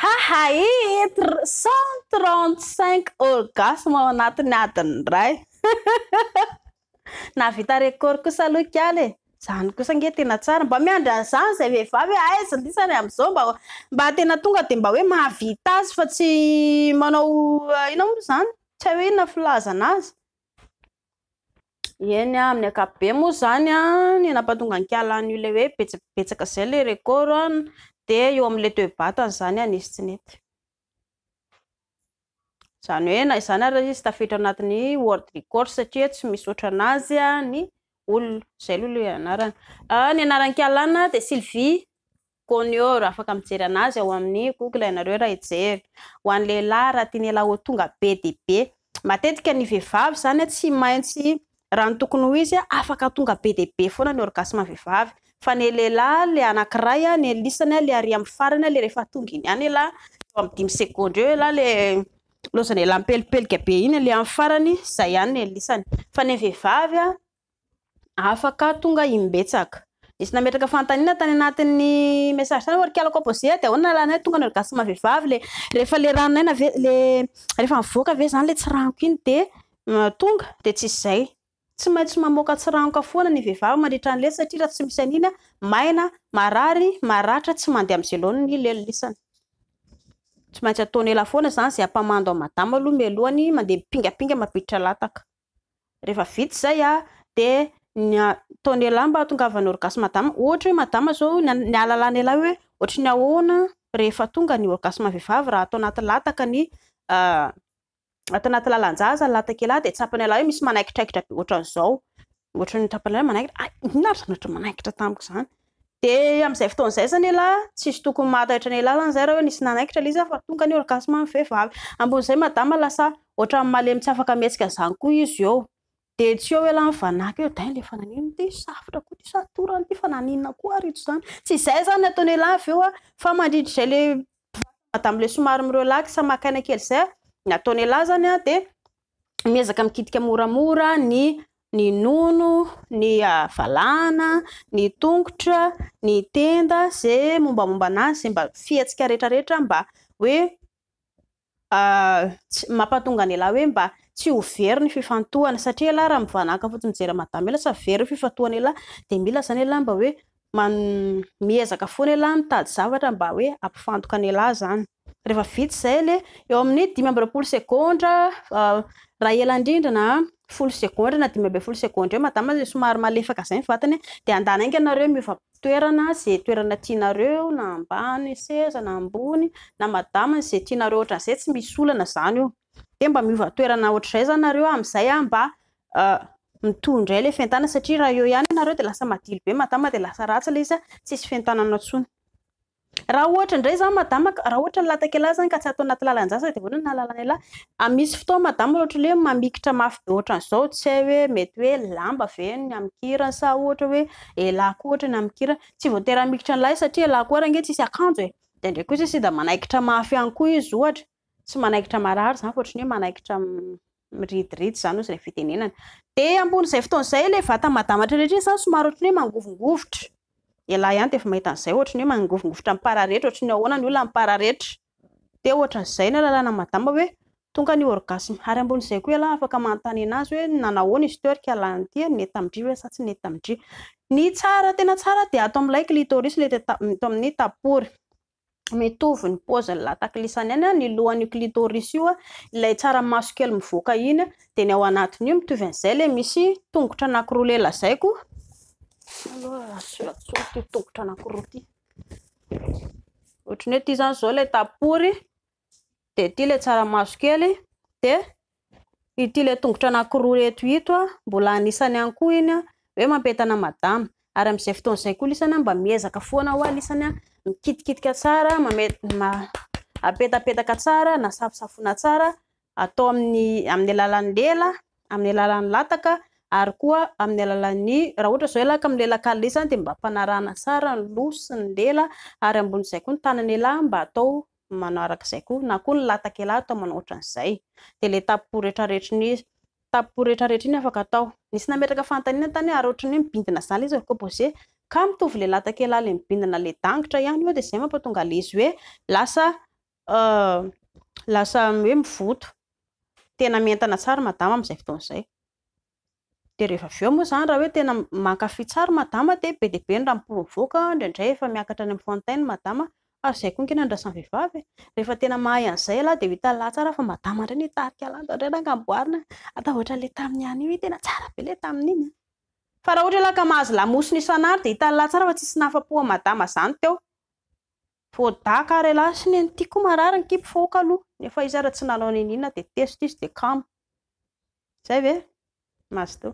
Haha ee tr cent trente cinq orgasme ao anatin'ny adiny iray nahavita record kosa aloha i Kiala e! Zany kosa nge tena tsara, mba miandry an'izany zay vehivavy hoe aiza ny isany amin'izao mba mba tena tonga dia mba hoe mahavita azy fa tsy manao inona moa ry zany? Tsy hay hoe inona filazana azy? Eny a, amin'ny ankapobeny moa izany a, ny nampahatonga an-kiala an'io ilay hoe betsabetsaka izay ilay record a, dia eo amin'ilay toe-batany izany a, nisy tsy nety. Izany hoe na izany ary izy tafiditra anatin'ny world record satria tsy misaotra an'azy ny olona. Izay aloha ilay anarany. Ny anaran'ny kialana dia Sylvie. Konioro, afaka mijery anazy ao amin'ny Google ianareo raha hijery. Ho an'ny lehilahy, raha tian'ialahy ho tonga be dia be. Matetika ny vehivavy izany tsy maintsy raha ny tokony ho izy afaka tonga be dia be foana ny orgasme ny vehivavy. Fa ny lehilahy ilay anankiray ny elisany ilay ary amin'ny farany ilay rehefa tonga iny ihany ialahy, eo amin'ny dimy segondra eo ialahy ilay loza an'ialahy mipelipelika be iny ilay amin'ny farany, izay ihany ny elisany. Fa ny an'ny vehivavy afaka tonga imbetsaka. Nisy nametraka fanontaniana tany anatin'ny message tany hoe ry kialako apozea dia ahoana lalanay tonga ny orgasme ny vehivavy le rehefa le ranon'aina ve le rehefa mivoaka ve izany le tsiranoka iny dia tonga dia tsy izay tsy maintsy mamoaka tsiranoka foana ny vehivavy mandritra ny lely satria raha tsy misy an'iny maina marary maratra tsy mandeha amin'izay loany ny lelon'isany tsy maintsy ataony ela foana izany izay ampamando an'i madama aloha mialohan'ny mandeha mipingapinga mampiditra lataka Rehefa vita izay a, dia ny ataon'ny lehilahy mba hahatongavan'ny orgasme madama, ohatra hoe madama izao ny ny ahalalany lehilahy hoe ohatry ny ahoana rehefa tonga ny orgasme vehivavy raha ato anaty lataka ny ato anaty lalan-jaza ny latak'ialahy dia tsapan'ny lehilahy hoe misy manaikitraikitra be ohatran'izao, ohatry ny tsapan'ny lehilahy hoe manaikitra, hay inona ary izany ohatry ny manaikitra tamiko izany? Dia amin'izay fotoana izay izany elah tsisy tokony mahataitra ny lalana izay raha hoe nisy nanaikitra ilay izy aho fa tonga ny orgasme ny vehivavy. Ambon'izay madama lasa ohatran'ny malemy tsy afaka mihetsika izany koa izy eo. Dia tsy eo elah nivanaka eo dainga efa naninona ity safotra koa ity sa torana ity fa naninona koa ary ito izany. Tsy izay izany ny ataony elah avy eo fa mandritra izay ilay vatany madama ilay somary mi-relax maka aina kely izay ny ataony elah izany dia miezaka mikitika moramora ny ny nono, ny ah, valahana, ny tongotra, ny tenda, ze mombamomba anazy, ze mba fihetsika rehetrarehetra mba hoe ah, mampatonga an' elah hoe mba tsy ho very ny fifantohana, satria elah raha mivanahaka fotsiny mijery an'i madama elah sa very ny fifantohana elah, dia mila zany elah mba hoe man miezaka foana elah mitady zavatra mba hoe hampifantoka an elah zany rehefa vita izay le eo amin'ny dimy amby roapolo segondra raha ela indrindra na folo segondra na dimy ambin'ny folo segondra eo madama zay somary malefaka izay ny vatany de andana enga nareo miova toerana ze toerana tianareo na ambany seza na ambony na madama ze tianareo ohatran'izay tsy misy olana zany io dia mba miova toerana ohatr'izay zany nareo amin'izay aho mba mitohy indray ilay fientanana satria raha eo ihany ianareo dia lasa madilo be madama dia lasa ratsy ilay izy an, tsisy fientanana intsony. Raha ohatra indray izany madama ka, raha ohatra ny latakelahy izany ka tsy ato anaty lalan-jaza dia ahoana ny halalan'ialahy? A Misy fotoana madama ohatra hoe mamikitra mafy be ohatran'izao tsy hay hoe mety hoe lamba ve ny amin-kirany sa ohatra hoe elah koa ohatra ny amin-kirany, tsy voatery hamikitra ny lahy satria elah koa ary ange tsisy akanjo e, dia indraindray kosa sida manaikitra mafy ihany koa izy ohatra. tsy manaikitra marary izany fa ohatran'ny hoe manaikitra miridiridy izany hozy ilay fitenenana. Dia ambonin'izay fotoana izay ilay vata madamatra rehetra iny izany somary ohatran'ny hoe mangovingovitra. Ialahy ihany dia efa mahita an'izay ohatran'ny hoe mangovingovitra mipararetra, ohatran'ny ahoana ny olona mipararetra. Dia ohatran'izay ny lalàna madama hoe tonga ny orgasme. Ary ambonin'izay koa ialahy afaka manontany an'azy hoe nanahoana izy teo ary ka lany ity ary nety tamin-dry ve sa tsy nety tamin-dry. Ny tsara, tena tsara dia ato amin'ilay clitoris, ilay eto amin'ny tapory. mitovy ny paoziny lataklisany any ny lohan'io clitoris io ilay tsara maso kely mivoaka iny dia ny ao anatin'io mitovy an'izay ilay misy tongotra anankiroa le lazaiko aloha solatsolo ty tongotra anankiroa ty ohatran'ny hoe ty zany zao ilay tapory dia ity ilay tsaramaso kely, dia ity ilay tongotra anankiroa ireto ito, mbola anisany ihany koa iny hoe mampientana madama, ary amin'izay fotoana izay koa lisany mba miezaka foana hoe lisany mikitikitika tsara, apetapetaka tsara na safosafoina tsara atao amin'ny amin'ny alalan'ny lela, amin'ny alalan'ny lataka ary koa amin'ny alalan'ny, raha ohatra izao ilay amin'ny lela kely lisany dia mba ampanarahana tsara ny loha sy ny lela ary ambonin'izay koa ny tanan'ialahy mba atao manao araka izay koa na koa ny latakela atao manao ohatran izay dia ilay tapopo retraretra iny tapopo retraretra iny afaka atao nisy nametraka fanontaniana tany ary ohatran'ny hoe mibindina zany izy ko bose ka mitovy ilay latakela ilay mibindina ilay dangitra ihany eo dia izay mampatonga ilay izy hoe lasa euh, lasa hoe mivoto tena mientana tsara madama amin'izay fotoana izay dia rehefa avy eo moa izany raha hoe tena mankafy tsara i madama dia be dia be ny raha mi-provoque, indraindray efa miakatra any amin'ny fantainy ny madama, ary izay koa ange no andrasan'ny vehivavy e! rehefa tena mahay an'izay ialahy dia ho hitan'ny lahy tsara fa madama indray no hitarika an'ilay ialahy, indraindray na amboarina an! atahotra an'ilay tamin'ny ihany io, iny tena tsara be ilay tamin'iny an! fa raha ohatra ialahy ka mahazo lamosina isan'andro dia hitan'ny lahy tsara fa tsisy nahafapo an'i madama izany teo. Voadaka ary elah sy neny ty koa marary ny kibo fo aoka aloha nefa izy ary tsy nanao neniana dia test izy dia kamo. Zay ve? Mazotoa.